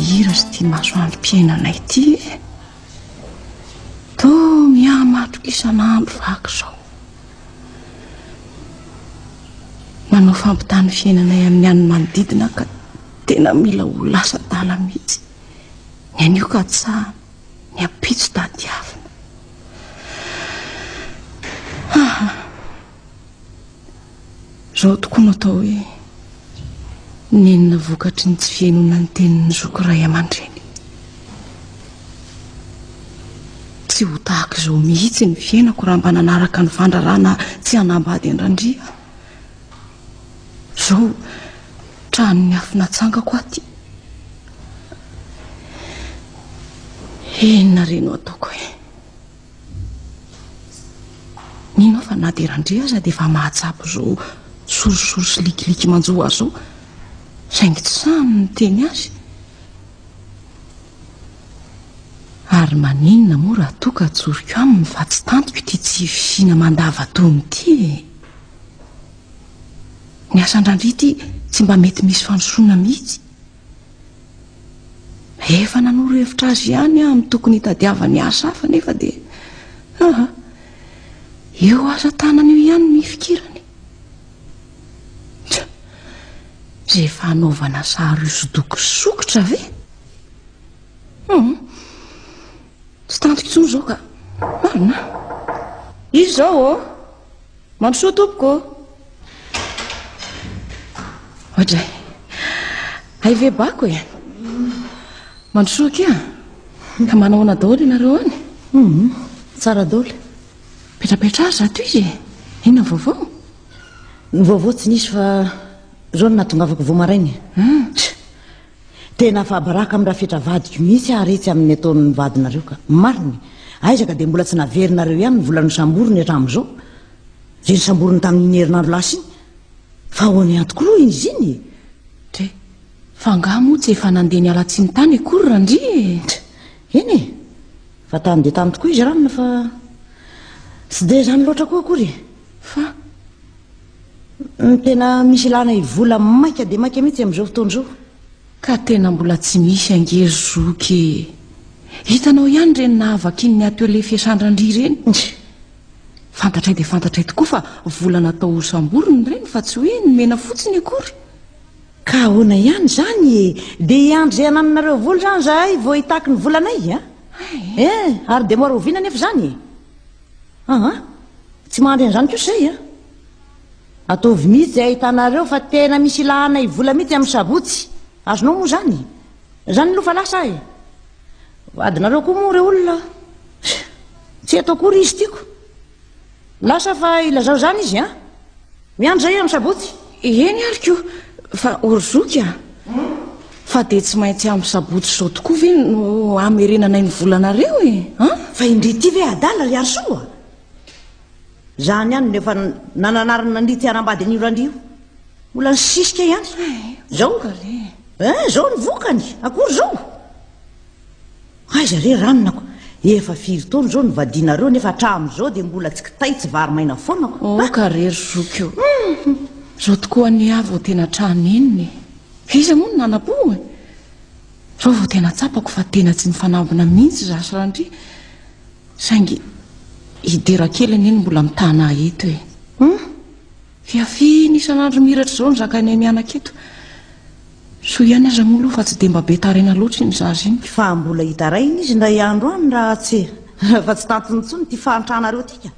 Hira sy ity masoandrom-piainana ity e. Toa mihamatroka isan'andro vaky izao. Manao fampitany fiainanay amin'ny an'ny manodidina ka tena mila ho lasa dala mihitsy. Ny anio katsahana, ny ampitso tadiavina. Izao tokoa no atao hoe nenina vokatry ny tsy fihainoana ny tenin'ny zoky ray aman-dreny. Tsy ho tahaka izao mihitsy ny fiainako raha mba nanaraka ny fandrarana tsy hanambady an-dRandria aho. Zao tranon'ny afo natsangako aty. Inona re no ataoko e? Mino fa na dia randria aza dia efa mahatsapa izao sorisory sy likiliky manjo azy zao. Saingy tsy sahany ny teny azy. Ary maninona moa raha toa ka tsoriko aminy fa tsy tantiko ity tsy fisiana mandava-tony ity e? Ny asan-dRandria ity tsy mba mety misy fandrosoana mihitsy. Efa nanoro hevitra azy ihany aho amin'ny tokony hitadiavany asa hafa nefa dia aha, io asa tanana io ihany no ifikirany. Tsa, izay efa hanaovana sary hosodoko sokitra ve? Hmm. Tsy tantiko intsony izao ka. Marina. Izy izao ô. Oh. Mampisoa tompoko ô. Ohatray. Hay ve bako e. Mampisoa kia. Ka manahoana daholo ianareo any? Mhm. Tsara daholo. Petrapetra ary zato izy e. Inona vaovao? Ny vaovao tsy nisy fa izao no nahatongavako vao maraina. Ah. Tena fabraka am rafetra vadiko mihitsy ah retsy amin ny ataon ny vadinareo ka. Marina e. Aiza ka dia mbola tsy naverinareo ihany ny vola nosamboriny hatram zao. Dia nosamboriny tamin iny herinandro lasa iny. Fa ahoana ihany tokoa aloha izy iny e. Dra. Fa angaha moa tsy efa nandeha niala tsiny tany akory Randria e. Dra. Eny e. Fa tany dia tany tokoa izy ranona fa tsy dia izany loatra koa akory e. Fa. Tena misy ilana i vola maika dia maika mihitsy amin'izao fotoana izao. Ka tena mbola tsy misy ange ry zoky e! Hitanao ihany ireny nahavakian'ny atelier fiasandran-dry ireny. Fantatray dia fantatray tokoa fa vola natao ho samborina ireny fa tsy hoe nomena fotsiny akory. Ka ahoana ihany izany e! Dia hiandry izay hanananareo vola izany izahay vao hitaky ny volanay a! Eh! Ary dia mora oviana anefa izany e! Aa! Tsy mandry an'izany kosa zay a! Ataovy mihitsy zay ahitanareo fa tena misy ilahanay vola mihitsy amin'ny sabotsy, azonao moa zany? Zany aloha fa lasa aho e! Vadinareo koa moa reo olona tsy eto akory izy tiako lasa fa ilazao zany izy an! Miandry zay amin'ny sabotsy? Eny ary ko, fa horozoky a! Fa dia tsy maintsy amin'ny sabotsy izao tokoa ve no hamerenanay ny volanareo e? An? Fa indry ity ve adala ry Harisoa? Zany ihany no efa nananarana an'ity haram-bady an'io randria io. Mbola nisisika ihany. Zao? Eh, zao ny vokany, akory zao? Aiza re ranonako? Efa firy taona izao no vadianareo nefa hatramin'izao dia mbola tsy kitay tsy vary maina foana ko! Aoka re ry zoky o! Izao tokoa anie aho vao tena tra nenina e! Iza moa no nanam-po e? Izao vao tena tsapako fa tena tsy mifanambina mihitsy izaho sy Randria saingy hidera kely anie no mbola mitana ahy eto e! Hum! Fiafiana isan'andro miratra izao ny zakainay mianaka eto. Soa ihany aza moa aloha fa tsy dia mba be taraina loatra iny zaza iny. Fa mbola hitaraina izy indray andro any raha tsy raha tsy tantiny intsony ity fahantranareo ity ka.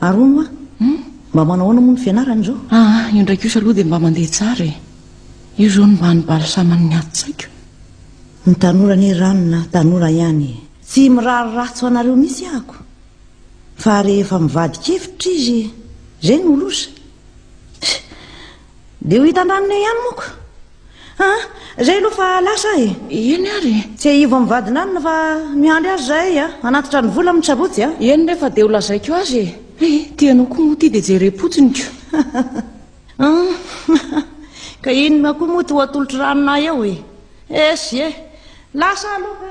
Ary hono hoa, mba manao ahoana moa ny fianarany izao? Aa, io indray kosa aloha dia mba mandeha tsara e. Io izao no mba nibalisaman'ny ato-tsaiko. Ny tanora anie Ranona, tanora ihany e. Tsy mirary ratsy ho anareo mihitsy ahako. Fa rehefa mivadikevitra izy, izay no loza. Dia ho hitan-dranony eo ihany moako. Ha, izay aloha fa lasa aho e. Eny ary. Tsiahivo amin'ny vadinanona fa miandry azy izahay a, hanatitra ny vola amin'ny sabotsy a. Eny re fa dia ho lazaiko azy e. He, ity anao koa moa ity dia jerem-potsiny ko. Ka inona koa moa ity ho atolotr'i Ranona ahy eo e. Esy e. Lasa aho aloha ka.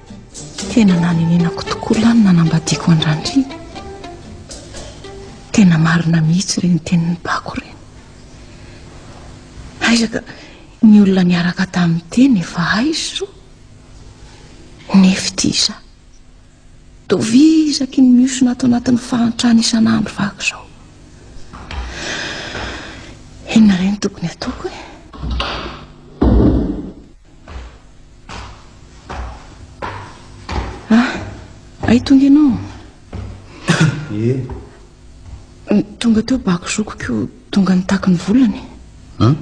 Tena nanenenako tokoa lahy ny nanambadiako an-dRandriana. Tena marina mihitsy ireny tenin'ny bako ireny. Aiza ka ny olona niaraka tamin'ny teny efa aizo. Nefty iza. Tovizaky ny miosona ato anatin'ny fahantrana isan'andro vaky izao. Inona ireny tokony ataoko e? Ah, ay tonga ianao. Ye. Eh. Tonga teo bako zokiko, tonga nitaky ny volany. Hum?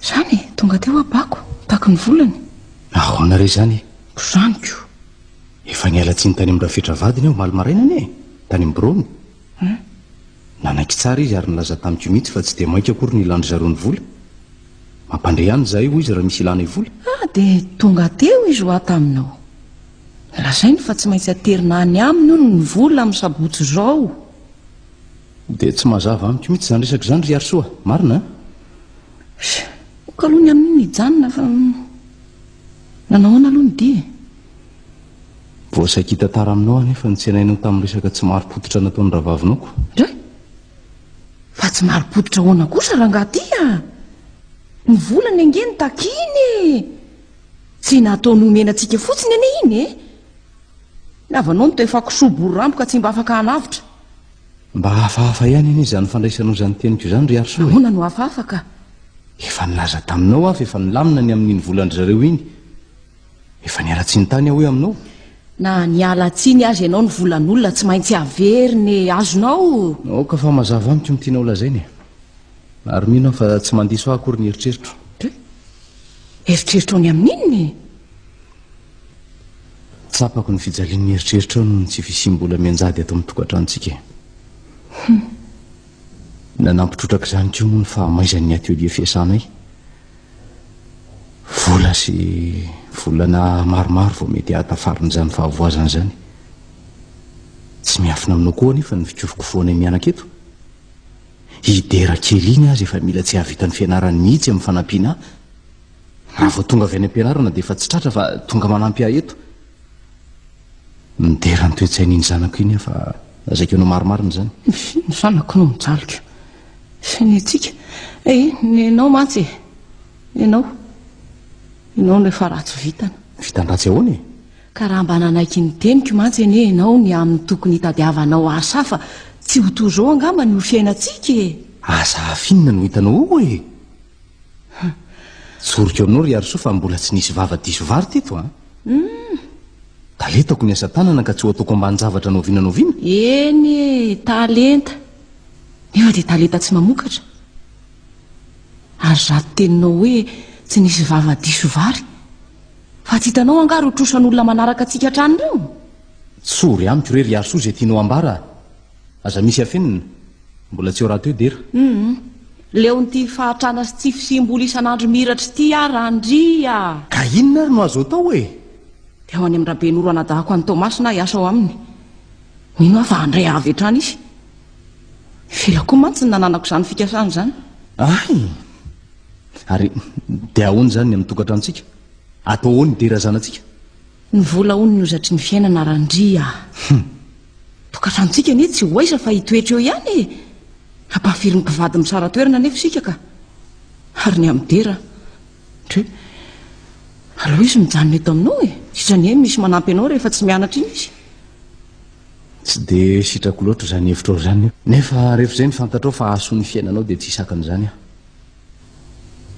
Zany, e, tonga teo abako, nitaky ny volany. Ahoana re zany? Zaniko. Efa niala tsiny tany amin'ny rafetra vadiny aho maly maraina anie, tany amin'ny birony. Hum. Nanaiky tsara izy ary nilaza tamiko mihitsy fa tsy dia mainka akory ny ilan-dry zareo ny vola. Mampandre ihany izahay hoy izy raha misy ilanay vola. Ah, dia tonga teo izy hoa taminao. Nolazainy fa tsy maintsy aterina any aminy hono ny vola amin'ny sabotsy izao. Dia tsy mazava amiko mihitsy izany resaka izany ry Harisoa. Marina an? Sh! ok aloha ny amin'iny nijanona fa. Nanao ahoana aloha ny dia e? Vao saiky hitantara aminao anefa ny tsenainao tamin'ny resaka tsy marim-pototra nataon'ny rahavavinao ko. Dra! Fa tsy marim-pototra ahoana kosa rangaha ty a! Ny volany ange no takiany e! Tsy nataony homena antsika fotsiny anie iny e! Ny havanao no tehfa kisoa bory rambo ka tsy mba afaka hanavotra. Mba hafahafa ihany anie izany fandraisanao izany teniko izany ry Harisoa e! Ahoana no hafahafa ka? Efa nilaza taminao aho fa efa nilamina ny amin'iny volan-dry zareo iny. Efa niala tsiny tany aho hoe aminao. Na niala tsiny aza ianao ny volan'olona tsy maintsy averiny ny e, azonao. Aoka fa mazava amiko ny tianao lazaina e. Ary mino aho fa tsy mandiso ahy akory ny eritreritro. Eritreritro ny amin'inona e? Tsapako ny fijalian'ny eritreritrao noho ny tsy fisiam-bola mianjady ato amin'ny tokantranontsika e. Nanampy trotraka izany koa moa ny fahamaizan'ny atelier fiasanay. Vola sy volana maromaro vao mety hahatafarina izany fahavoazana izany. Tsy miafina aminao koa anefa ny fikofokofoanay mianaka eto. I Dera kely iny aza efa mila tsy hahavita ny fianarany mihitsy amin'ny fanampiana ahy. Raha vao tonga avy any am-pianarana dia efa tsy tratra fa tonga manampy ahy eto. Midera ny toe-tsain'iny zanako iny aho fa zaiko anao marimarina izany. Ny zanako no mijalika. Génétique. Eh, nenao mantsy e. Nenao. Ianao no efa ratsy vitana. Vitan-dratsy ahoana e? Ka raha mba nanaiky ny teniko mantsy anie ianao ny amin'ny tokony hitadiavanao ahy sahy fa tsy ho toy izao angamba ny ho fiainantsika e. Aza afinina no hitanao ao e. Tsoriko aminao ry Harisoa fa mbola tsy nisy vava diso vary teto an. Hum. Taletako ny asa tanana ka tsy ho ataoko ambanin-javatra noviana noviana. Eny e, talenta. Nefa dia talenta tsy mamokatra. Ary zato teninao hoe tsy nisy vava diso vary. Fa tsy hitanao angaha ireo trosan'olona manaraka antsika hatrany ireo? Tsory amiko re ry Harisoa izay tianao ambara. Aza misy afenina. Mbola tsy ho raha teo dera. Humm. Leon'ity fahatrana sy tsy fisiam-bola isan'andro mihiratry ity aho Randry ah. Ka inona ary no azo atao e? Dia ho any amin'i Rabenoro anadahako an'i Toamasina aho hiasa ao aminy. Mino aho fa handray avy hatrany izy. Ela koa mantsy no nananako izany fikasana izany. Hay! Ary dia ahoana izany ny amin'ny tokantranontsika? Atao ahoana i dera zanatsika? Ny vola hono no zatry ny fiainana Randria ah. Hum. Tokantranontsika anie tsy ho aiza fa hitoetra eo ihany e. Hampahafiry ny mpivady misara toerana anefa isika ka. Ary ny amin'ny dera. Ndry. Aleo izy mijanona eto aminao e. Sisa anie misy manampy anao rehefa tsy mianatra iny izy. Tsy dia sitrako loatra izany hevitrao izany io. Nefa rehefa izay no fantatrao fa hahasoa ny fiainanao dia tsy hisakan'izany aho.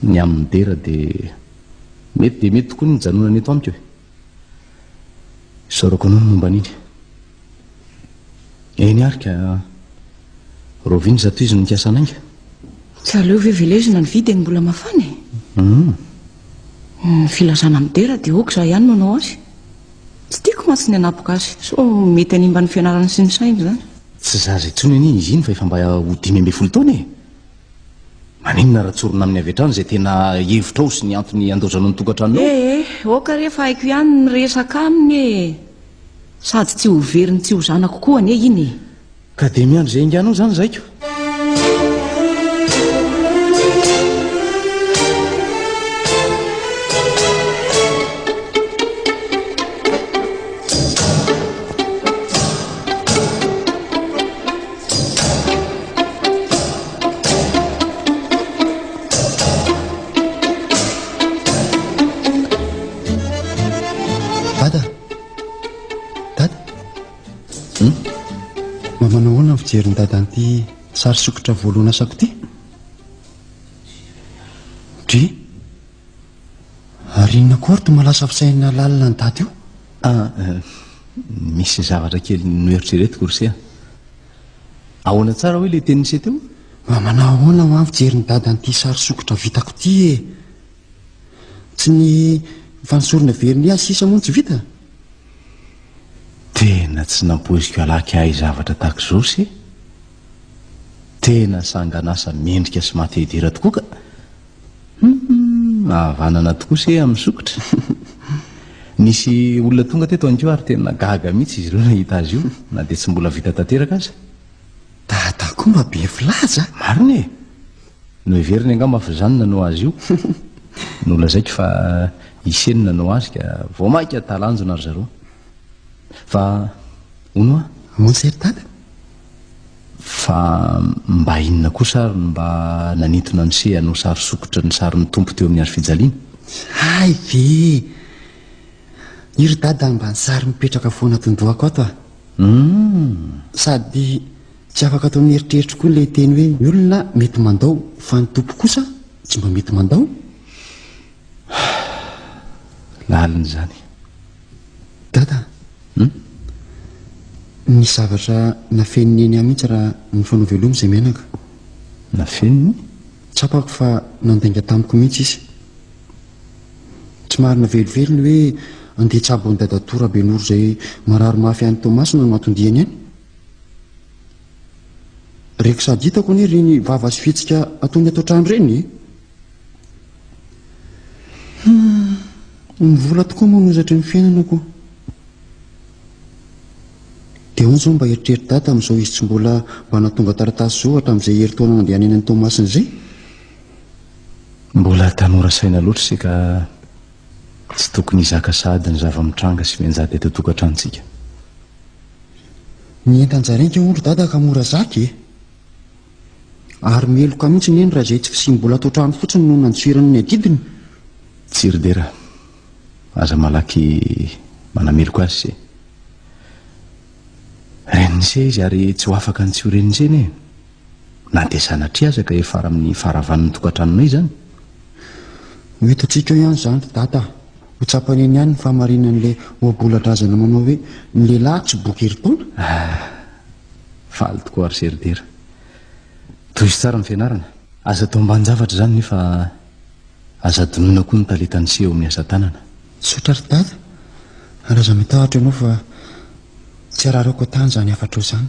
Ny amin' ny dera dia mety dia mety tokoa ny nijanonana eto amiko e. Isaorako anao ny momba an' iny. Eny ary ka roviana izato izy no nikasa hanainga. Tsy aleo ve velezina ny vy dia ny mbola mafana e? Hum. Ny filazana amin' ny dera dia ok za ihany no hanao azy. Tsy tiako mantsy ny hanapoka azy sao mety hanimba ny fianarany sy ny sainy izany. Tsy zaza intsony anie izy iny fa efa mba ho dimy ambin'ny folo taona e. Maninona raha tsorina aminy avy hatrany izay tena hevitrao sy ny antony andaozanao ny tokantranonao? Eh eh, aoka re fa haiko ihany ny miresaka aminy e! Sady tsy ho veriny tsy ho zanako koa anie iny e! Ka dia miandry izay hainganao izany izahay ko! fijery ny dadan'ity sary sokitra voalohana asako ity dri ary inona kory to malasa fisainana lalina ny dady io Ah, misy zavatra kely noeritreretiko ry se a. Ahoana tsara hoy ilay tenin'i se teo? Mba manahoana ho aho mijery ny dada an'ity sary sokitra vitako ity e? Tsy ny fanosorana vernis sisa moa no tsy vita? Tena tsy nampoiziko halaky hahay zavatra tahaka izao se. Tena sanganasa mendrika sy mahate-hidera tokoa ka. Humm ahavanana tokoa se amin'ny sokitra Nisy olona tonga teto ihany koa ary tena gaga mihitsy izy ireo nahita azy io na dia tsy mbola vita tanteraka aza. Dada koa mba be filaza. Marina e! Noheveriny angamba fa izany nanao azy io. Nolazaiko fa ise no nanao azy ka vao mainka talanjona ry zareo. Fa hono hoa? Hono se ry dada? Fa mba inona kosa ary no mba nanintona an'i Shea hanao sary sokitra ny sarin'ny Tompo teo amin'ny hazofijaliana? Hay ve! I ry Dada mba nisary mipetraka foana ato an-dohako ato ah! Hum! Sady tsy afaka ato amin'ny eritreriko koa ilay teny hoe ny olona mety mandao fa ny Tompo kosa tsy mba mety mandao? Lalina izany. Dada! Hum. Nisy zavatra nafenin'i Neny ahy mihitsy raha nifanao veloma izay menaka. Nafeniny? Tsapako fa nandainga tamiko mihitsy izy. Tsy marina velively ny hoe andeha hitsabo an'i dadatoa Rabenoro izay marary mafy any Toamasina no anton-diany any. Reko sady hitako anie ireny vava sy fihetsika ataony ato an-trano ireny e! Humm ny vola tokoa moa no zatry ny fiainana ko Dia ahoana izao mba eritreritra dada amin'izao izy tsy mbola mba nahatonga taratasy izao hatramin'izay herintaona nandehanany any Toamasina izay? Mbola tanora saina loatra isika tsy tokony hizaka sahady ny zava-mitranga sy mianjady eto an-tokantranontsika. Ny entan-dry zareo ange hono ry dada ka mora zaka e! Ary meloka mihitsy neny raha izay tsy fisiam-bola ato an-trano fotsiny no nantsirany ny adidiny. Tsy ry Dera, aza malaky manameloka azy se. Reniny se izy ary tsy ho afaka ny tsy ho reniny se anie e. Na dia sanatria aza ka efa amin'ny faharavan'ny tokantranonay izany. Ho hitantsika eo ihany izany ry Dada a. Ho tsapany eny ihany ny fahamarinan'ilay ohabolan-drazana manao hoe ny lehilahy tsy boky herintaona. Ah, Faly tokoa ary ze ry dera. Tohizo tsara ny fianarana. Aza atao ambanin-javatra izany nefa aza adinoina koa ny talenta niseho eo amin'ny asa tanana. Misaotra ry dada ary aza mitahotra ianao fa tsy araraoko an-tany izany hafatrao izany.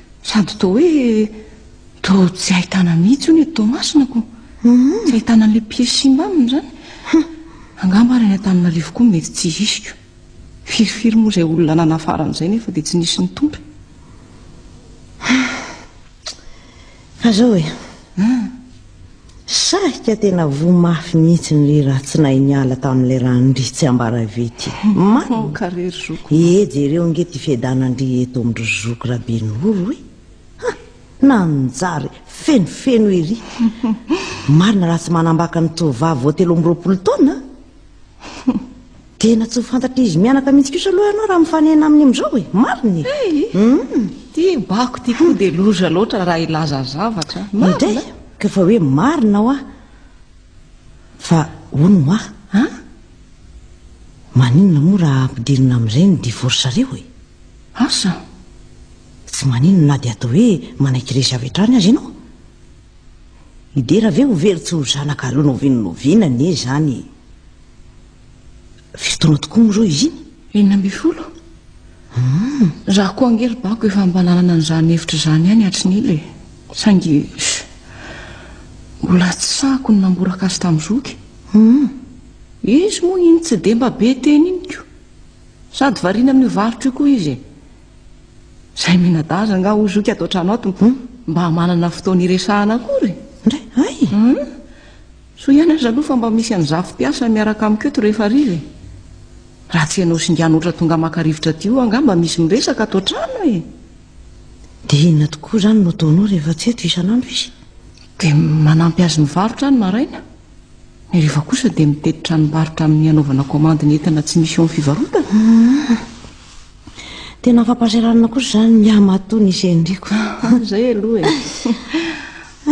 Sady toa hoe toa tsy ahitana mihitsy hono eto Toamasina mhm. Tsy ahitana an'ilay piesy simba aminy izany. Angamba ary any Antananarivo koa mety tsy hisy koa. Firifiry moa izay olona nanafara an'izay nefa dia tsy nisy ny tompony. Fa zao e. Ah. Sahika tena voa mafy mihitsy ny ratsinay niala tamin'ilay randria tsy ambara avy ety. Marina! Ee jereo ange ity fiadanandria eto amin-dry zoky Rabenoro e! Ha! Nanjary fenofeno ery! Marina raha tsy manambaka ny tovovavy vao telo amby roapolo taona a! Tena tsy mifantatra izy mianaka mihitsy kosa aloha ianao raha mifanena aminy amin'izao e, marina e. Hey, mm. ty bako ty koa dia loza loatra raha hilaza zavatra. Marina. Ka fa hoe marina hoa. Fa hono hoa. Ha? Maninona moa raha ampidirina amin'izay ny divorce-reo e? Asa? Tsy maninona na dia atao hoe manaiky resy avy hatrany aza ianao. Midera ve ho very tsy ho zanaka aleo noviana noviana anie izany Firy taona tokoa moa izao izy iny? Enina ambin'ny folo hmm. Raha koa ange ry bako efa mba nanana an'izany hevitra izany ihany hatry ny ela e Saingy mbola tsy sahako ny namboraka azy tamin'ny zoky hmm. Izy moa iny tsy dia mba be teny iny ko Sady variana amin'io varotra io koa izy e Zay minadaza anga ho zoky ato an-trano ato hmm? mba manana fotoana iresahana akory. Ndray, ay! Hmm? Soa ihany aza aloha fa mba misy an'i Zafy mpiasa miaraka amiko eto rehefa hariva e. Raha tsy ianao singa noatra tonga maka rivotra aty io anga mba misy miresaka ato an-trano e. Dia inona tokoa izany no ataonao rehefa tsy eto isan'andro izy? Dia manampy azy mivarotra any maraina. Ny reva kosa dia mitety tranombarotra amin'ny hanaovana komandy ny entana tsy misy eo amin'ny fivarotana. Ah, tena fampahasahiranana kosa izany ny hamatoa ny gendriko. Ah, izay aloha e.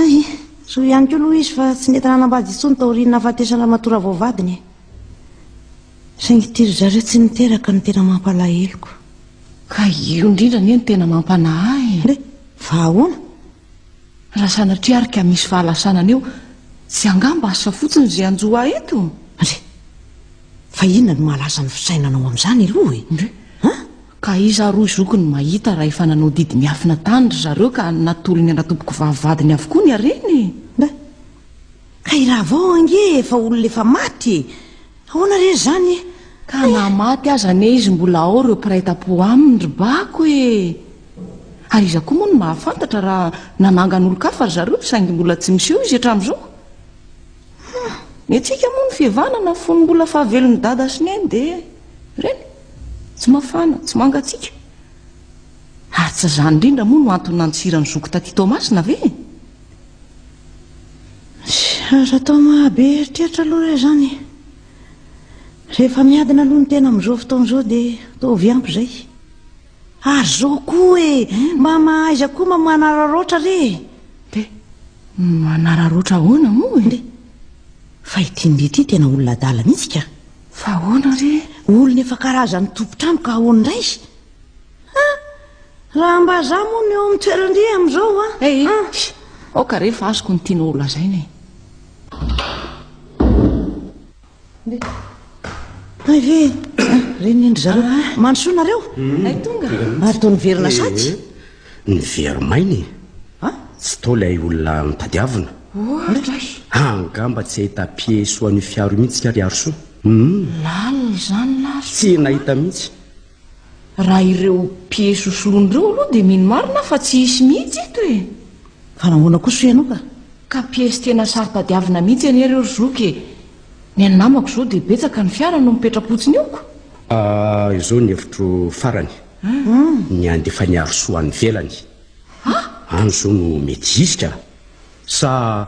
Ay, soa ihany koa aloha izy fa tsy nety nanambady intsony taorian'ny nahafatesan'ny ramatoa ravaovadiny e. Saingy ity ry zareo tsy niteraka no tena mampalaheloko. Ka io indrindra anie no tena mampanahy e. Fa ahoana? Raha sanatria ary ka misy fahalasana anio, tsy angamba asa fotsiny izay hanjo ahy eto? Ndry! Fa inona no mahalaza ny fisainanao amin'izany aloha e? Ndry! Ha? Ka iza ary hoy zoky no mahita raha efa nanao didy miafina tany ry zareo ka natolony an-dRatompoko vavy vadiny avokoa ny hareny e? Ndry! Ka i Ravao ange efa olona efa maty e! Ahoana re izany e! Ka na maty aza anie izy mbola ao ireo mpiray tam-po aminy ry bako e! Ary iza koa moa no mahafantatra raha nanangana olon-kafa ry zareo saingy mbola tsy miseho izy hatramin'izao? Hum! Ny antsika moa ny fihavanana fony mbola fahavelon'i Dada sy Neny dia ireny, tsy mafana, tsy mangatsiaka. Ary tsy izany indrindra moa no antony nantsiran'i Zoky taty Toamasina ve? Aza atao mahabe eritreritra aloha re zany. Rehefa miadina aloha ny tena amin'izao fotoana izao dia ataovy ampy izay. Ary zao koa e, mba mahaiza koa mba manararaotra re e. Dia manararaotra ahoana moa e? Dia fa ity ndia ity tena olona adala mihitsy ka. Fa ahoana re? Olona efa karazan'ny tompon-trano ka ahoana indray? Ha! Raha mba za moa no eo amin'ny toeran-dry amin'izao a! Hey! Ha! Aoka re fa azoko ny tianao holazaina e! Hay ve re ny an-dry zareo a! Mandrosoa nareo! Hay tonga! Ary toa niverina sady! Nivery maina e! Ha! Tsy toa ilay olona notadiavina! Ohatra e! Angamba tsy hahita pieds soa an'io fiaro io mihitsy ka ry Harosoa! Hum! Lalina izany lahy! Tsy nahita mihitsy! Raha ireo piesy ho soloina ireo aloha dia mino marina aho fa tsy hisy mihitsy eto e! Fa nahoana kosa hoy ianao ka? Ka piesy tena saro-tadiavina mihitsy anie ireo ry zoky e! Ny an'ny namako izao dia betsaka ny fiara no mipetra-potsiny eo ko! Ah, izao ny hevitro farany, ny handefa an'i Harosoa any ivelany. Any izao no mety hisy ka! Sa.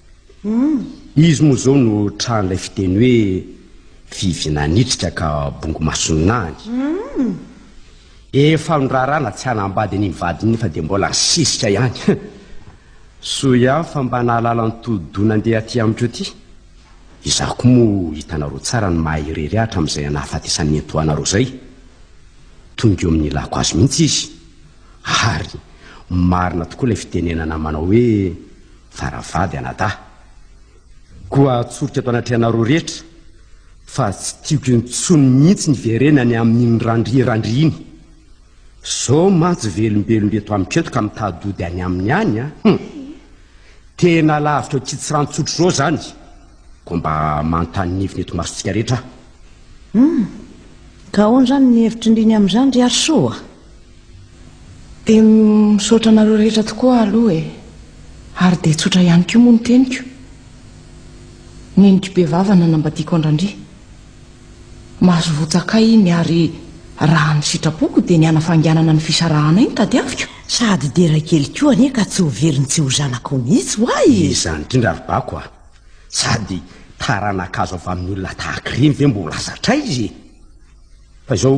Izy moa izao no tran'ilay fiteny hoe vivy nanitrika ka bongo mason'any. Efa nirarana tsy hanambady an'iny vadiny nefa dia mbola nisisika ihany. Soa ihany fa mba nahalala ny tohi-doha nandeha aty amiko aty. Izaho koa moa hitanareo tsara ny maha irery ahy hatramin'izay anahafatesan'ny nenitoanareo izay. Tonga eo amin'ny ilako azy mihitsy izy. Ary marina tokoa ilay fitenenana manao hoe. fa raha vady anadahy. Koa atsoriko eto anatrehanareo rehetra fa tsy tiako intsony mihitsy ny hiverenany amin'iny randrirandry iny. Zao mantsy velombelomby eto amiko eto ka mitadody any aminy any a. Hum! Tena lavitra ao Kitsiranotsotro zao zany. Koa mba manontany ny heviny eto masontsika rehetra aho. Hum! Ka ahoana zany ny hevitry ndriny amin'izany ry Harisoa? Dia misaotra anareo rehetra tokoa aloha e. Ary dia tsotra ihany koa moa ny teniko. Neniko be vava nanambadiako an-dRandria. Mahazovotsakay iny ary raha ny sitrapoko dia ny hanafainganana ny fisarahanay no tadiaviko. Sady dera kely koa anie ka tsy ho velon'ny tsy ho zanakao mihitsy ho'a e! Izany indrindra ry bako a! Sady taranaka azo avy amin'ny olona tahak'ireny ve mbola zatray izy e! Fa izao,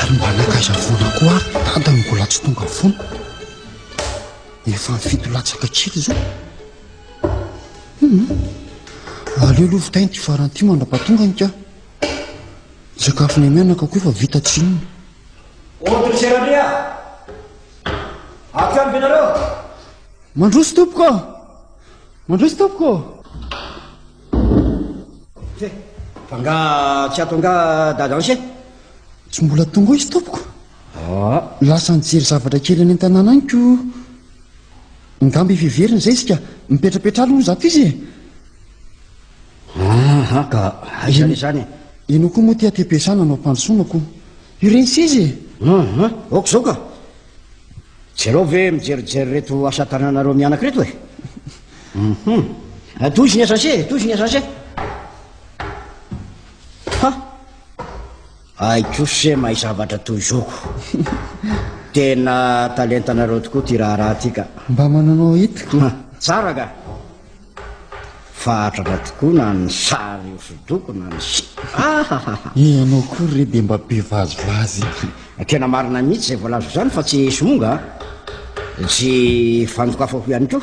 Ary mba nankaiza foana koa ary Dada no mbola tsy tonga foana? Efa ny fito latsaka kely izao. Hum. Aleo aloha vitaina ity farany ity mandrapatonga ny ka. Ny sakafo ny menaka koa efa vita tsy inona. Ordre Gerania. Avy amby ianareo. Mandroso tompoko. Mandroso tompoko. He, fa nga tsy ato nga dadanse? Tsy mbola tonga izy tompoko. Ah. Lasa nijery zavatra kely any an-tanàna any ko. Ngamba efa heveriny izay isika. Mipetrapetra aloha zato izy e. Aha, ka aiza le zany? Ianao koa moa ty aty am-piasana anao am-pandrosoana ko. Ireny seza e. Aha, aoka izao ka. Jereo ve mijerijery reto asa tananareo mianaka reto e? Mhm. Eh, tohizo ny asanse e, tohizo ny asanse. Ha! Aiko se mahay zavatra tohizoko. Tena talentanareo tokoa ty raharaha ty ka. Mba mananao hety ka. Tsara ka. Fahatratra tokoa na ny sary hosodoko na ny si Ahahah. Ianao koa re dia mba be vazivazy ity. Tena marina mihitsy izay voalazako izany fa tsy somonga an. Tsy fandokafako ihany koa.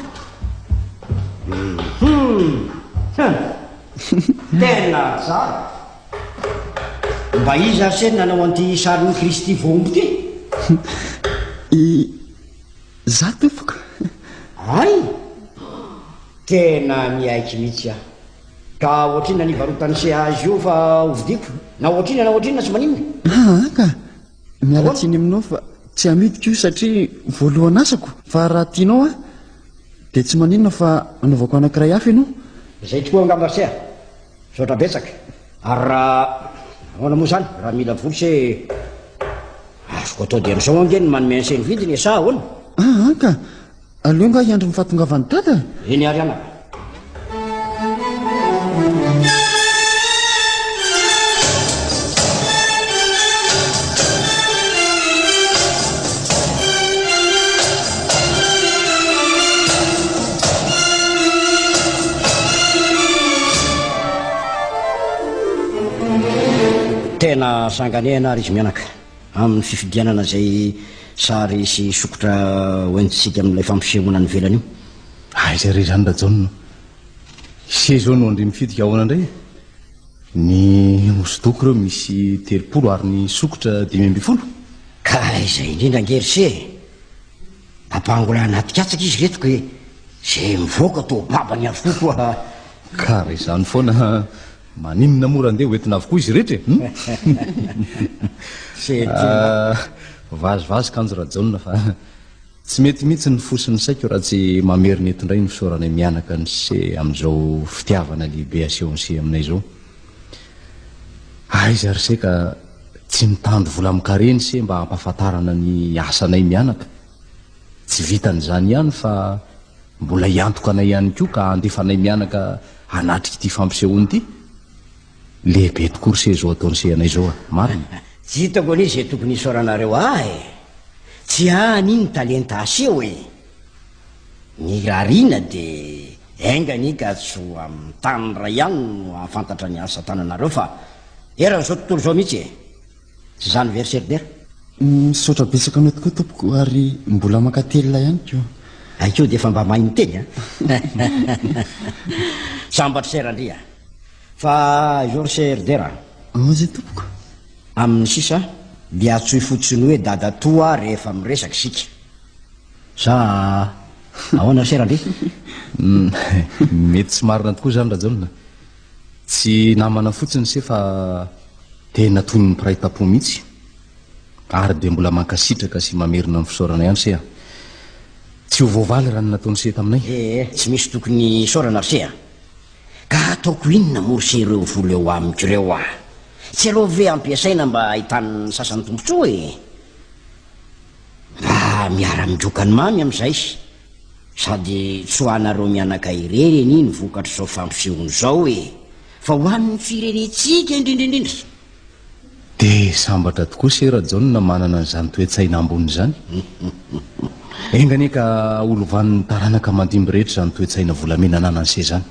Hum. Tena tsara. Mba iza ary se no nanao an'ity sarin'i Kristy voahombo ity? I. Za tompoko. Hay! Tena miaiky mitsy aho. Ka ohatrinona ny hivarotany se azy io fa ho vidiko? Na ohatrinona na ohatrinona tsy maninona. Aa ka! Miala tsiny aminao fa tsy hamidiko io satria voalohan asako fa raha tianao aho dia tsy maninona fa anaovako anakiray hafa ianao. Izay tokoa angamba se a! Misaotra betsaka. Ary raha ahoana moa izany raha mila voly se azoko atao dia amin'izao ange ny manome an'se ny vidiny e sa ahoana? Ah, an ka! Aleo angaha hiandry ny fahatongavan'i Dada e! Eny ary anaka. Tena sanganehana ary izy mianaka amin'ny fifidianana izay sary sy sokotra hoentintsika amin'ilay fampisehoana any ivelany io. Aiza ah, re izany Rajaona? Ise izao no andry mifitika ahoana indray? Ny hosodoko ireo misy telopolo ary ny sokotra dimy ambin'ny folo. Ka izay indrindra ange ry se. Ampangola anaty katsaka izy reto ke zay mivoaka to babany avokoa koa. Ka raha izany foana maninona moa raha ndeha ho entina avokoa izy rehetra e? Ah, vazivazy kanjo Rajaona fa tsy mety mihitsy ny fo sy ny saiko raha tsy mamerina eto indray ny fisaoranay mianaka an'ise amin'izao fitiavana lehibe asehon'ise aminay izao. Aiza ry se ka tsy mitandro vola amin-kareny se mba hampahafantarana ny asanay mianaka. Tsy vitan'izany ihany fa mbola hiantoka anay ihany koa ka handefa anay mianaka hanatrika ity fampisehoana ity. Lehibe tokoa ry se izao ataon'i se anay izao a! Marina? Tsy hitako anie izay tokony hisaoranareo ahy e! Tsy any iny ny talenta aseho e! Ny rarina dia enga anie ka tsy ho amin'ny tany iray ihany no hahafantatra ny asa tananareo fa eran'izao tontolo izao mihitsy e! Tsy izany ve ry Seribera? Misaotra betsaka anao tokoa tompoko ary mbola mankatelina ihany koa. Hainkoa dia efa mba mahay miteny a! Sambatry Sera ndry a! Fa izao ry Seribera a! Ahoana izay tompoko? Amin'ny sisa dia antsoy fotsiny hoe dadatoa rehefa miresaka isika. Sa ahoana ry sera ndry? Humm mety tsy marina tokoa izany Rajaona. Tsy namana fotsiny se fa tena toy ny mpiray tampo mihitsy. Ary dia mbola mankasitraka sy mamerina ny fisaorana ihany se a. Tsy ho voavaly raha ny nataony se taminay. Eh eh tsy misy tokony hisaorana ry se a. Ka hataoko inona moa ry se ireo vola eo amiko ireo a. Tsy aleo ve ampiasaina mba ahitany ny sasany tombotsoa e. Raha miara-midroka ny mamy amin'izay, sady tsy ho anareo mianaka irery anie ny vokatr'izao fampisehoana izao e! Fa ho an'ny firenentsika indrindra indrindra! Dia sambatra tokoa se Rajaona manana an'izany toe-tsaina ambony izany. Enga anie ka holovan'ny taranaka mandimby rehetra izany toe-tsaina volamena ananan'se izany.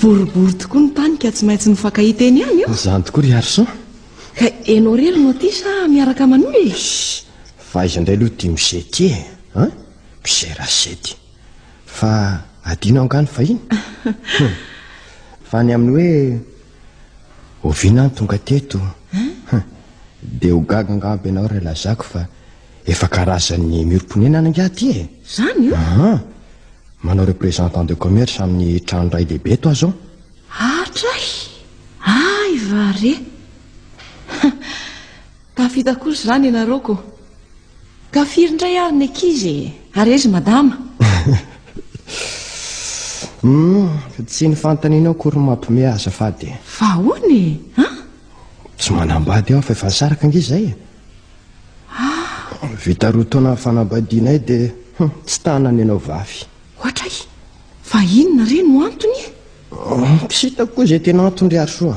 Boribory tokoa ny tany ka tsy maintsy nifankahita eny ihany eo. Izany tokoa ry Harrison. Ka ianao irery no aty sa miaraka aman'olona e? Fa aiza indray aloha ity mise ity e? Hein? Mise Rasety. Fa adinao angaha ny fahiny? Fa ny amin'ny hoe oviana aho no tonga teto? Dia ho gaga angamba ianao raha ilazako fa Efa karazan'ny miorim-ponenana ingahy ity e. Zany io? Aha. Manao représentant de commerce amin'ny trano ray lehibe eto aho zao. Hatray! Ay va re! Tafita kosa zany ianareo ko. Ka firy indray ary ny ankizy e? Ary aiza madama? Hum, tsy ny fanontanianao akory no mampiomehy ahy azafady e. Fa ahoana e? An? Tsy manambady aho fa efa nisaraka ange izay e. Ah! Vita roa taona ny fanambadianay dia hum, tsy tana ny anao vavy. Ohatray, fa inona re no antony e? Oh, tsy hitako koa izay tena antony ry Arisoa.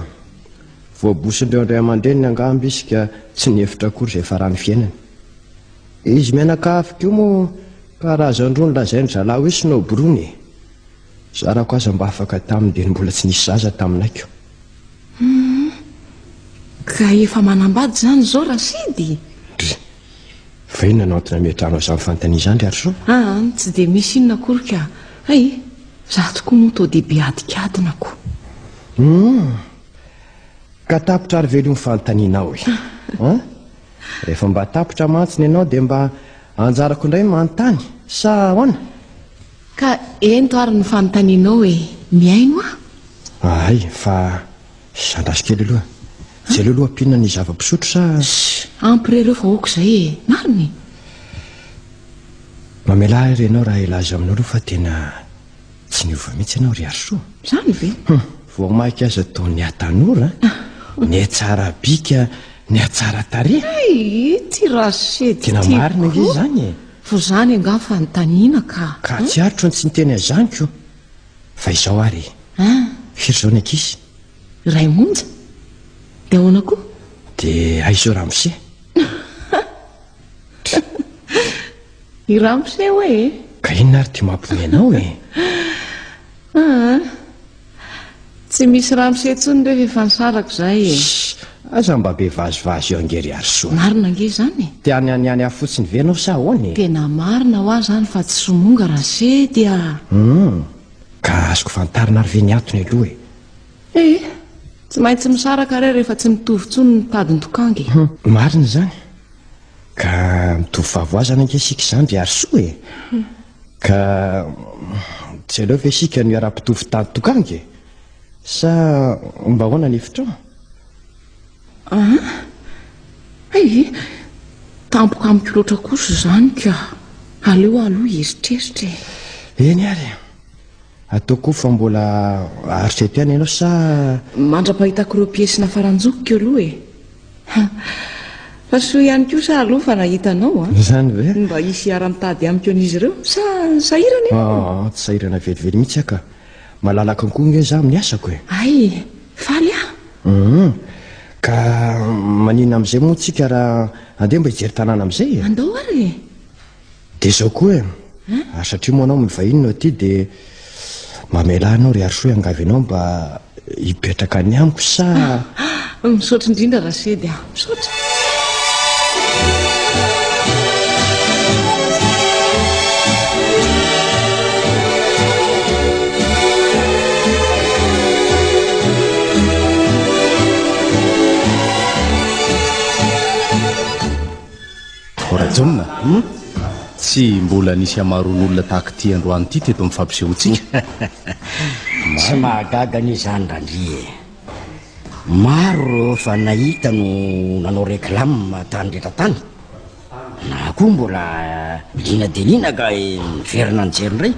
Voabosondreo indray aman-dreniny angamba izy ka tsy nihevitra akory izay farany fiainany. Izy mianakavy koa moa karazany roa nolazain'ny zalahy hoe sinobrony e. Zarako aza mba afaka taminy dia ny mbola tsy nisy zaza taminay ko. Hum, ka efa manambady izany izao Rasidy? Dry, fa inona no antony ametrahanao izany fanontaniana izany ry Arso? Aa, tsy dia misy inona akory ka. Hay, izaho tokoa moa toa dia be adikadina ko. Hum, ka tapitra ary ve aloha ny fanontanianao e? Ha? Rehefa mba tapitra mantsy ny anao dia mba anjarako indray ny manontany sa ahoana? Ka ento ary ny fanontanianao e! Mihaino aho! Ahay, fa zandraso kely aloha. Tsy aleo aloha ampiana ny zava-pisotro sa? Sssh! Ampy re ireo fa aoka izay e! Marina e! Mamelà ahy re ianao raha hilaza aminao aloha fa tena tsy niova mihitsy ianao ry Harisoa. Izany ve? Hum! Vao mainka aza toa nihatanora, nihatsara bika, nihatsara tarehy. Hay! Ity Rachid tiako koa! Tena marina ange izany e! Toa izany angaha fanontaniana ka. Ka tsy aritro ny tsy niteny an'izany ko. Fa izao ary e. An! Firy izao ny ankizy? Iray monja. Dia ahoana koa? Dia aiza io ramose? I ramose hoe e. Ka inona ary ity mampiomehy anao e? An! Tsy misy ramose intsony refa efa nisarako izay e. Shh! Aza mba be vazivazy eo ange ry Harisoa. Marina ange izany e. Te any any any aho fotsiny ve ianao sa ahoana e? Tena marina hoa izany fa tsy somonga raha se dia. Hum! Ka azoko fantarina ary ve ny antony aloha e? Ee, tsy maintsy misaraka re rehefa tsy mitovy intsony ny tadin-tokanga e. Hum! Marina izany. Ka mitovy fahavoazana ange isika izany ry Harisoa e. Ka tsy aleo ve isika no hiara-pitovo tady tokanga e? Sa mba ahoana ny hevitrao? Ah, ay, tampoka amiko loatra kosa izany ka. Aleo aloha hieritreritra e. Eny ary e. Atao koa fa mbola aritreto ihany ianao sa... Mandra-pahitako ireo piesy nafaranjokiko aloha e. Fa soa ihany koa sa alou fa nahita anao a? Izany ve? Mba hisy hiara-mitady amiko an'izy ireo sa sahirana ianao? Ah, ah, ah tsy sahirana velively mihitsy aho ka. Malalaka koa nge za amin'ny asako e. Ay, faly aho. Uhum. Ka maninona amin'izay moa tsika raha andeha mba hijery tanàna amin'izay e? Andao ary e. Dia izao koa e, ary satria moa anao mivahiny no aty dia mamelà anao ry Harisoa hiangavy anao mba hipetraka any amiko sa Misaotra indrindra Rasedy a, misaotra. Rajaonina, tsy mbola nisy hamaroan'olona tahaka ity androany ity teto amin'ny fampisehoantsika. Tsy mahagaga anie izany Randria e! Maro ireo efa nahita no nanao réclame tany rehetra tany, na koa mbola liana dia liana ka miverina nijery indray.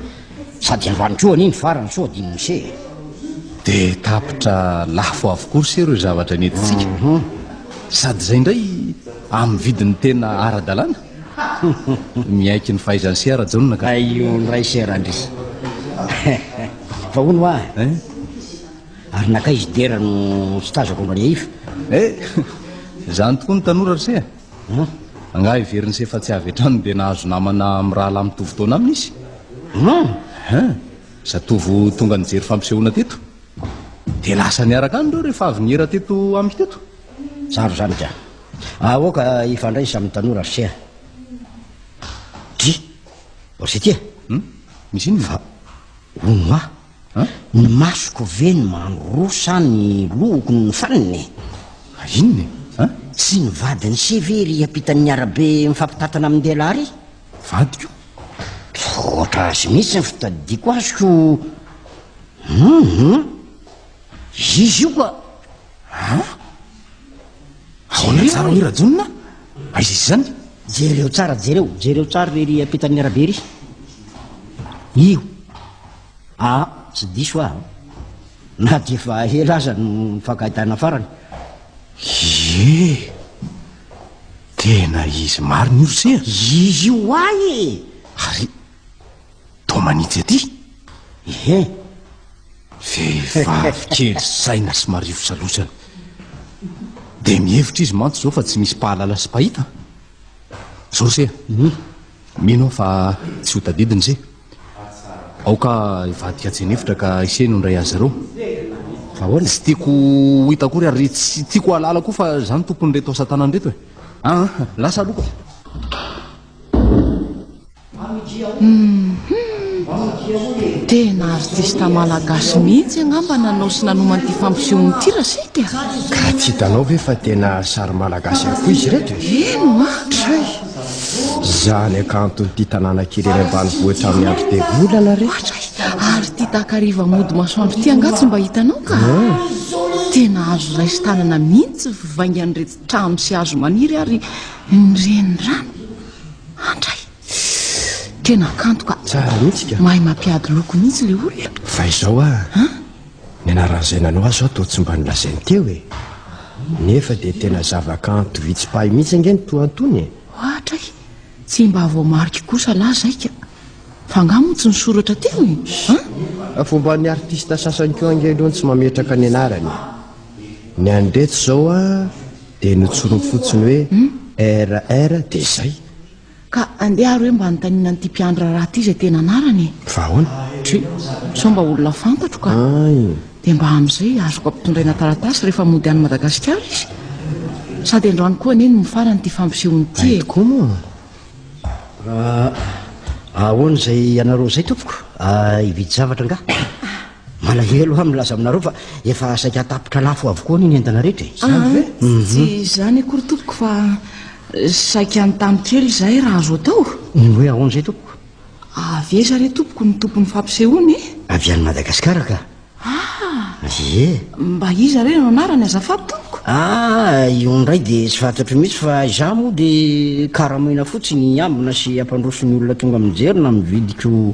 Sady androany koa anie ny farany sao adin'i Mosè e. Dia tapitra lafo avokoa ry sero io zavatra nentintsika. Mhm. Sady izay indray amin'ny vidiny tena ara-dalàna. Miaiky ny fahaizan'i Sera Jaona ka. Aio indray Sera ndry. Fa hono hoa, Eh? ary nankaiza i Dera no tsy tazako mba niaifa? Eh! Izany tokoa ny tanora ry se a. An! Angaha heverin'i Sefa tsy avy hatrany dia nahazo namana mirahalahy mitovy taona aminy izy? An! An! Zatovo tonga nijery fampisehoana teto. Dia lasa niaraka any ireo rehefa avy niera teto amiko teto. Tsara izany ka. Aoka hifandraisa amin'ny tanora ry Seha. Dry! Ry Setia! Hum? Misy inona? Fa hono hoa! Ny masoko ve no mandroa sa ny lohoko no nifanina e? Ary inona e? An? Tsy ny vadiny se ve ry ampitan'ny arabe mifampitantana amin-dehilahy ry? Vadiko? Misaotra azy mihitsy ny fitadidiako azy ko. Hum, izy io ka. Ha? Ahoana tsara hoy Rajonona? Aiza izy izany? Jereo tsara, jereo, jereo tsara ry ampitan'ny arabe ry. Io. Ah, tsy diso aho na dia efa ela aza no nifankahitana farany. Ie! Tena izy marina io se a! Izy io ho ahy e! Ary toa manitsy aty? Ehe. Vehivavy kely saina sy marivo salosana. Dia mihevitra izy mantsy izao fa tsy misy mpahalala sy mpahita. Izao se a! Mino aho fa tsy ho tadidiny se. Aoka hivadika tsy an'efitra ka isehiny ho indray azy ireo. Fa ahoana? Tsy tiako ho hita akory ary tsy tiako hahalala koa fa izaho no tompon'ireto asa tanana ireto e. Ah, lasa aloha ka. Tena artista malagasy mihitsy angamba nanao sy nanomana ity fampisehoana ity Rachid a! Ka tsy hitanao ve fa tena sary malagasy avokoa izy ireto e? Eny hoa! Tray! Izaho ny hakanton'ity tanàna kely eny ambanivohitra amin'ny andro be volana re. Ary ity takariva mody masoandro ity angaha tsy mba hitanao ka? Tena azo raisin-tanana mihitsy ny fivaingan'ireto trano sy hazo maniry ary ny renirano. Andray! Tena kanto ka. Tsara mihitsy ka. Mahay mampiady loko mihitsy ilay olona. Fa izao ah. Ny anaran'izay nanao azy zao toa tsy mba nolazainy teo e. Nefa dia tena zavakanto vitsy mpahay mihitsy ange ny toa antony e. Ohatra e. Tsy mba voamariko kosa lah zay ka. F'angaha moa tsy nisoratra teo e? An? Fomban'ny artista sasany koa ange aloha ny tsy mametraka ny anarany e. Ny an'ireto izao an dia notsoriny fotsiny hoe RR dia izay. Ka andeha ary hoe mba anontaniana an'ity mpiandry raharaha ity izay tena anarany e! Fa ahoana? Tsia, sao mba olona fantatro ka! Ay! Dia mba amin'izay azoko ampitondraina taratasy rehefa mody any Madagasikara izy? Sady androany koa anie no mifarana ity fampisehoana ity e! Ay tokoa moa! Ahoana izay ianareo izay tompoko? Hividy zavatra angaha? Malahelo aho milaza aminareo fa efa saika tapitra lafo avokoa anie ny entana rehetra e. Izany ah, ve? Mhm. Tsy izany akory tompoko fa saika an-tany kely izahay raha azo atao. Ny hoe ahoana izay tompoko? Avy aiza re tompoko ny tompon'ny fampisehoana e? Avy any Madagasikara ka. Ah! Ie. Mba iza re no anarany azafady tompoko? Ah, io indray dia tsy fantatro mihitsy fa izaho moa dia karamaina fotsiny hiambina sy hampandroso ny olona tonga mijery na mividiko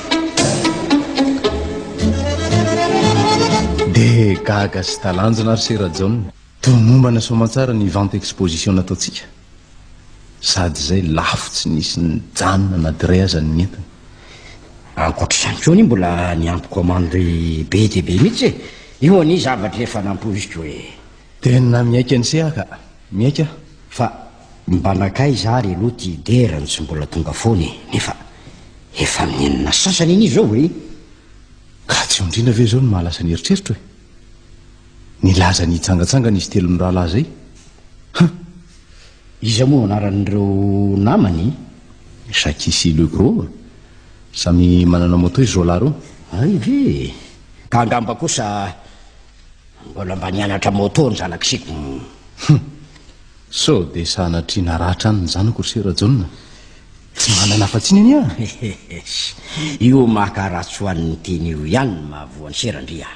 Dia gaga sy talanjona ary sera jaona Toromombana soamantsara ny vente exposition nataontsika Sady izay lafo tsy nisy nijanona na dray aza ny entiny Ankoatr'izany koa anie mbola niampy commande be dia be mihitsy e Io anie zavatra efa nampoiziko e Tena mihaika ny seha ka Mihaika fa Mba nankaiza ary aloha ty dera no tsy mbola tonga foana e, nefa efa amin'ny enina sasany anie izao e! Ka tsy ondriana ve izao no maha lasa ny eritreritro e? Nilaza ny hitsangatsangana izy telo mirahalahy izay. Huh! Iza moa anaran'ireo namany? Jackie sy Legros. Samy manana moto izy roa lahy ireo. Hay ve! Ka angamba kosa mbola mba nianatra moto ny zanak'isiko. Huh! Sao dia sanatria naratra any ny zanako ry sera Jaona? Tsy manana afa-tsy ny ania! Io maka ratsoan'ny teny io ihany no mahavoa an'i sera ndry a!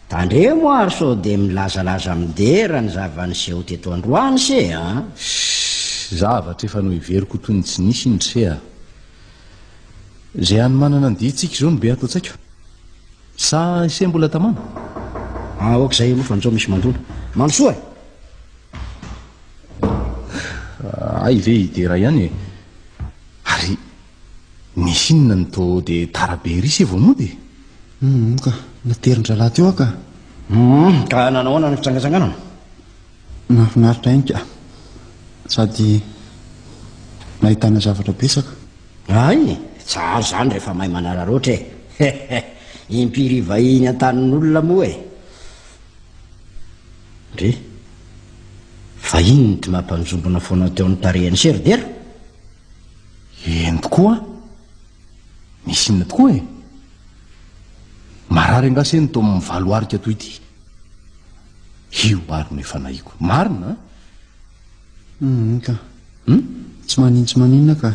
Tandremo ary sao dia milazalaza midera ny zava-niseho teto androany se an! Shh! Zavatra efa noheveriko ho toy ny tsy nisy iny ry se a! Izay hanomanana ny dihintsika izao no be ato an-tsaiko. Sa ise mbola tamana? Ah ok zay aloha fa njao misy mandona. Mandro soa e! Ah, ay ve hidera ihany e. Ary misy inona ny to de tara be ery se vao mody e? Hum ka, naterin-drahalahy teo aho ka. Hum, ka nanahoana ny fitsangatsanganana? Nahafinaritra ihany ka. Sady nahitana zavatra betsaka. Hay! Tsara izany rehefa mahay manararaotra e! He he! Impiry vahiny an-tanin'olona moa e! Ndry! Vahiny ny Dma mpanjombona foana teo amin'ny tarehin'i Sir Dera? Eny tokoa! Misy inona tokoa e! Marary angaha se ny tao amin'ny valo arika toy ity? Io ary no efa nahiko. Marina an! Humm ka. Humm tsy manin tsy maninona ka.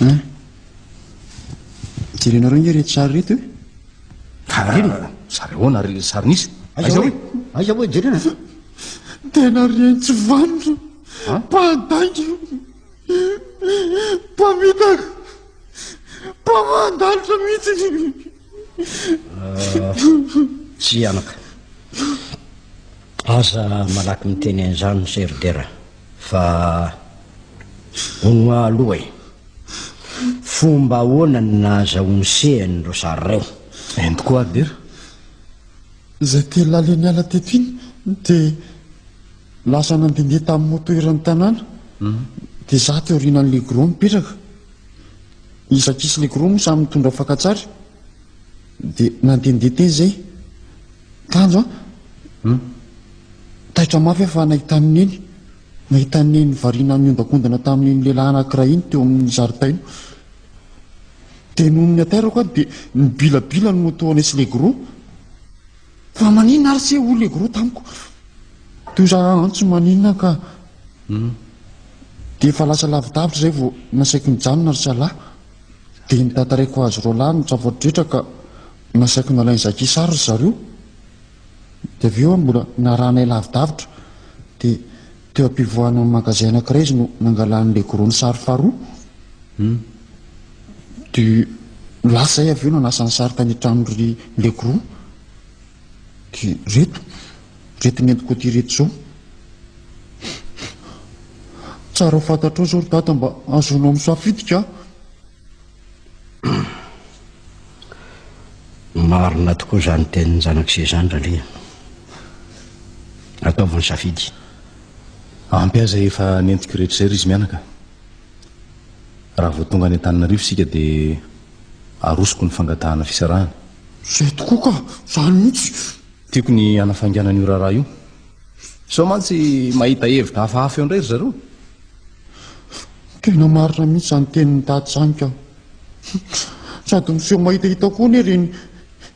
Hein Jerenareo nge reto sary reto e. Taraina. Sary ahoana ary ilay sary nisy? Aiza hoe? Aiza hoe jerena? Tena rien tsy vanona. Mpandainga. Mpamitaka. Mpamandalitra mihitsy. Tsia anaka. Aza malaky miteny an'izany Mister Dera fa hono aloha e. Fomba ahoana ny nahazahoany sehany ireo sary ireo? Eny tokoa ary Dera. Izay telo lahy niala teto iny dia lasa nandehandeha tamin'ny moto eran'ny tanàna. Dia izaho teo aorianan'ilay gros mipetraka. Izy ankisy leiko roa moa samy nitondra fakantsary dia nandehandeha teny izay. Kanjo an! Hmm. Taitra mafy aho fa nahita an'i Neny. Nahita an'i Neny variana miondakondana tamin'iny lehilahy anankiray iny teo amin'ny zaridaina. Dia noho ny aterako aho dia ny bilabila no toa nisy leiko roa. Fa maninona ary se hoy le goro tamiko teo za antso maninona ka hmm. dia efa lasa lavidavitra zay vao nasaiko nijanona ry salahy dia nitatareko azy roa lahy ny tsafoadretra ka nasaiko nalainy zakisary ry zareo dia avy eo aho mbola narahanay lavidavitra dia Teo am-pivoahana ny magazay anankiray izy no nangalany ilay gros-ny sary faharoa. Hum. Dia lasa izahay avy eo nanasa ny sary tany an-tranon-dry Legros. Dia ireto, ireto nentiko aty ireto izao. Tsara ho fantatrao izao ry dada mba hahazoanao misafidy ka. Marina tokoa izany tenin'ny zanak'ise izany ralia. Ataovy ny safidy. Ampy aza efa nentiko rehetra izay ry izy mianaka. Raha vao tonga any Antananarivo isika dia arosoko ny fangatahana fisarahana. Izay tokoa ka, izany mihitsy. Tiako ny hanafainganana io raharaha io. Sao mantsy mahita hevitra hafahafa eo indray ry zareo. Tena marina mihitsy izany tenin'i Daty izany ka. Sady miseho mahitahita koa anie ireny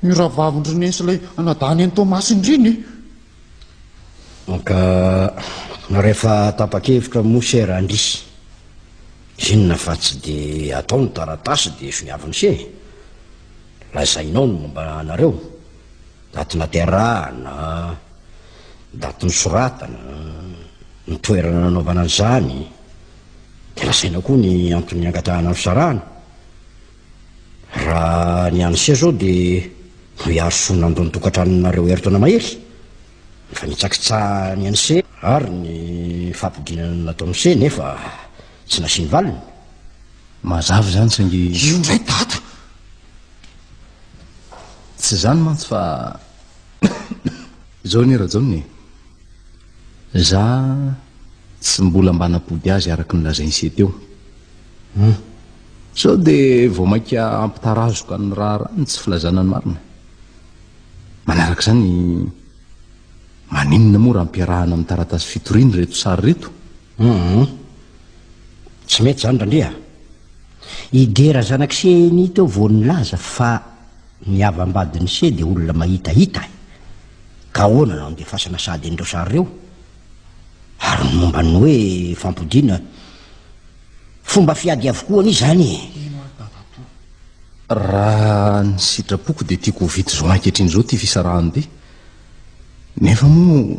io rahavavin-dry Neny sy ilay anadahiny an'i Toamasina ireny e. Ka rehefa tapa-kevitra moa se Randria, inona fa tsy dia atao ny taratasy dia sonia avy ny se e. Lazainao ny momba anareo. Daty naterahana, daty nosoratana, ny toerana nanaovana an'izany, dia lazaina koa ny antony niangadrahana ny fisarahana. Raha ny any sia izao dia mba hiaro soa nandoa ny tokantranonareo herintaona mahery, ny fanitsakitsahany an'i se ary ny fampidinana nataon'i se nefa tsy nasiany valiny. Mazava izany saingy. Io indray daty! Tsy izany mantsy fa izao anie Rajaona e. Za tsy mbola mba napody azy araka ny lazain'i Se teo. Hmm. Sao dia vao mainka ampitarazoka ny raharaha ny tsy filazana ny marina. Manaraka izany maninona moa raha ampiarahana amin'ny taratasy fitoriana ireto sary ireto? Hmm. Tsy mety izany Randria. I Dera zanak'i Seheny teo vao nilaza fa ny havam-badin'i Sehy dia olona mahitahita e. Ka ahoana no andefasana sahady an'ireo sary ireo? Ary ny momba ny hoe fampodiana, fomba fiady avokoa anie izany e. Raha ny sitrapoko dia tiako ho vita izao ankehitriny izao ity fisarahan'ity. Nefa moa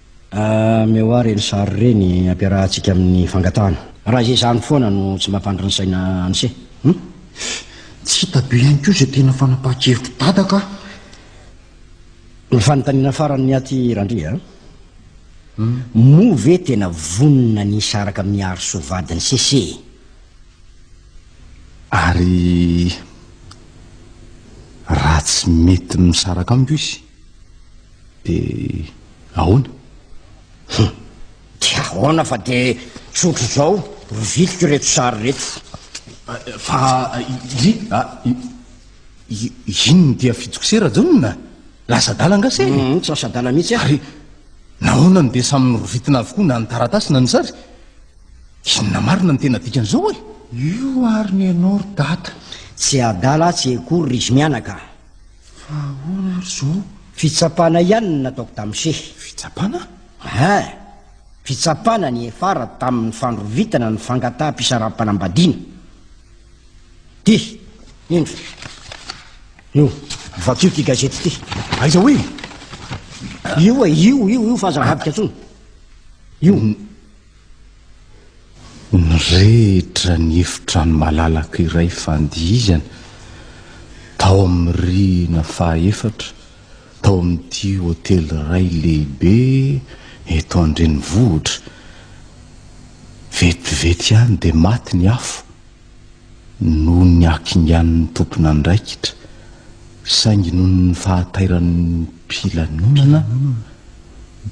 Ameo ary ireny sary ireny ampiarahantsika amin'ny fangatahana. Raha izay izany foana no tsy mampandry ny saina an'ise. Hum. Tsy hita be ihany koa izay tena fanapahan-kevitry Dada ka. Ny fanontaniana farany ny aty Randria a. Moa ve tena vonona ny hisaraka amin'i Harisoa vadin'i Sese e? Ary raha tsy mety misaraka amiko izy? Dia ahoana? Hum! Dia ahoana fa dia tsy ohatr'izao ry viliko ireto sary ireto. Fa i, a, i, inona dia fidiko se Rajaonona? Lasa adala angaha se? Hum, tsy lasa adala mihitsy aho. Ary nahoana no dia samy norovitina avokoa na ny taratasy na ny sary? Inona marina no tena dikan'izao e? Io ary ny anao ry Dada. Tsy adala atsy akory ry izy mianaka. Fa ahoana ary izao? Fitsapana ihany no nataoko tamin'i Shehy. Fitsapana? Hein! Fitsapana nihefara tamin'ny fandrovitana ny fangataham-pisaram-panambadiana. Ty, indro. Io, vakio ity gazety ity. Aiza hoy? Io e, io, io, io fa aza avadika intsony. Io. Nirehitra ny efitrano malalaka iray fandihizana tao amin'ny rihina fahaefatra tao amin'ity hotely iray lehibe eto an-drenivohitra. Vetivety ihany dia maty ny afo. noho ny hakingan'ny tompon'andraikitra, saingy noho ny fahatairan'ny mpilanonana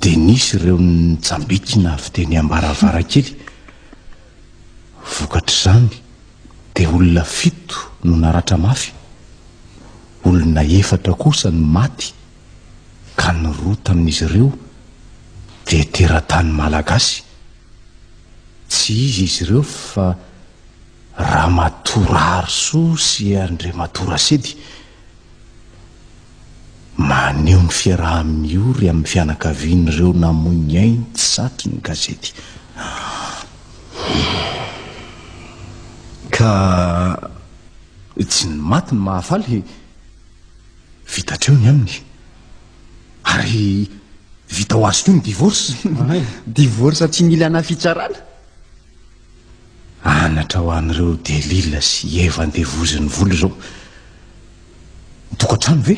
dia nisy ireo nitsambikina avy teny am-baravarankely. Vokatr'izany dia olona fito no naratra mafy, olona efatra kosa no maty ka ny roa tamin'izy ireo dia teratany malagasy. Tsy iza izy ireo fa Ramatoa Raharisoa sy Andriamatoa Rasedy. Maneho ny fiaraha-miory amin'ny fianakavian'ireo namoy ny ainy tsy satry ny gazety. Ka tsy ny maty no mahafaly. Vita hatreo ny aminy. Ary vita ho azy koa ny divorce. Divorce tsy mila na fitsarana. Anatra ho an'ireo Delila sy Eva andevozin'ny vola izao. Ny tokantrano ve?